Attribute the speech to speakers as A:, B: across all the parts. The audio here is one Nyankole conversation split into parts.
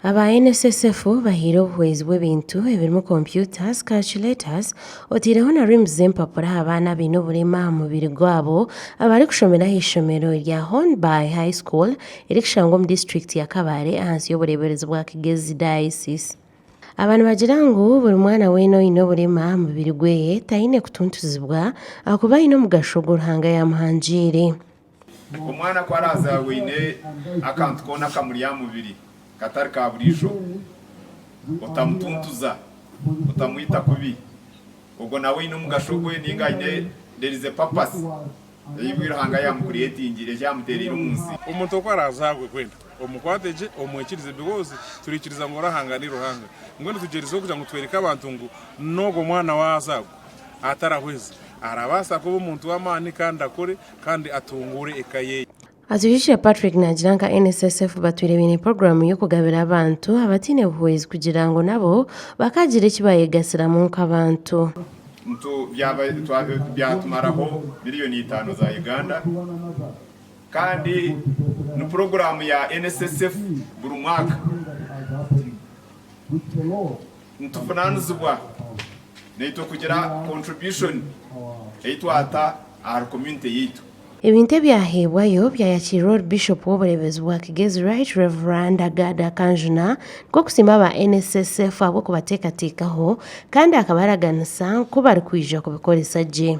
A: Aba NSSF bahaire obuhwezi bw'ebintu ebirimu computers, calculators oteireho na rims z'empapura aha baana abaine oburema aha mubiri gwabo abarikushomera aha ishomero erya Hon Bai High School erikushangwa omu disiturikiti ya Kabale ahansi y'obureeberezi bwa Kigezi Diocese. Aba nibagira ngu buri mwana weena oine oburema aha mubiri gwe taine kutuntuzibwa ahakuba aine omugasho ogu Ruhanga yaamuhangiire.
B: Omwana ku araazaarwa oine akantu koona akamuri aha mubiri katari ka buriijo, otamutuntuza, otamwita kubi, ogwo nawe aine omugasho gwe nainga aine there is a purpose. Eibwe Ruhanga ayamukureetingire, eki amuteereire omu nsi. Omuntu oku araaza agwe,
C: kwenda omukwate gye omwikirize, because turaikiriza ngu Ruhanga ni Ruhanga. Mbwenu tugyerizeho kugira ngu twereke abantu ngu n'ogwo mwana waaza agwe atarahweza, arabaasa kuba omuntu w'amaani kandi akure kandi atunguure eka ye. Atwihikire
A: Patrick naagira nka NSSF batwire baine puroguramu y'okugabira abantu abataine buhwezi kugira ngu nabo bakaagira eki baayegasiramu nk'abantu. ntu
B: byaba byatumaraho miriyoni itaano za Uganda kandi ni puroguramu ya NSSF buri mwaka. Nituvunaanizibwa naitwe kugira contribution ei twata ahari community yaitu. Ebintu
A: ebyaheebwayo byayakirirwa ori Bishop w'obureebezi bwa Kigezi Right Rev Agada Kanjuna nikwo kusiima aba NSSF ahabw'okubateekateekaho kandi akabaraganisa nku barikwija kubikoresa gye.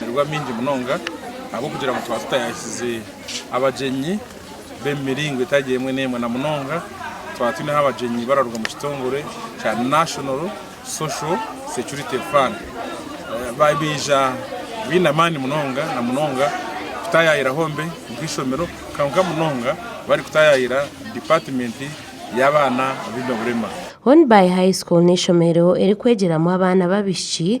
A: Amarwariro amaingi
C: munonga ahabw'okugira ngu tuba tutayahize abagyenyi b'omu miringo etari emwe n'emwe na munonga twaba twine abagyenyi bararuga omu kitongore kya National Social Security Fund baija baine amaani munonga na munonga kutaayaayira Home nk'eishomero kwonka munonga barikutaayaayira Dipaatimenti y'Abaana Abaine Oburema. Hon Bay High
A: School n'eishomero erikwegyeramu abaana b'abaishiki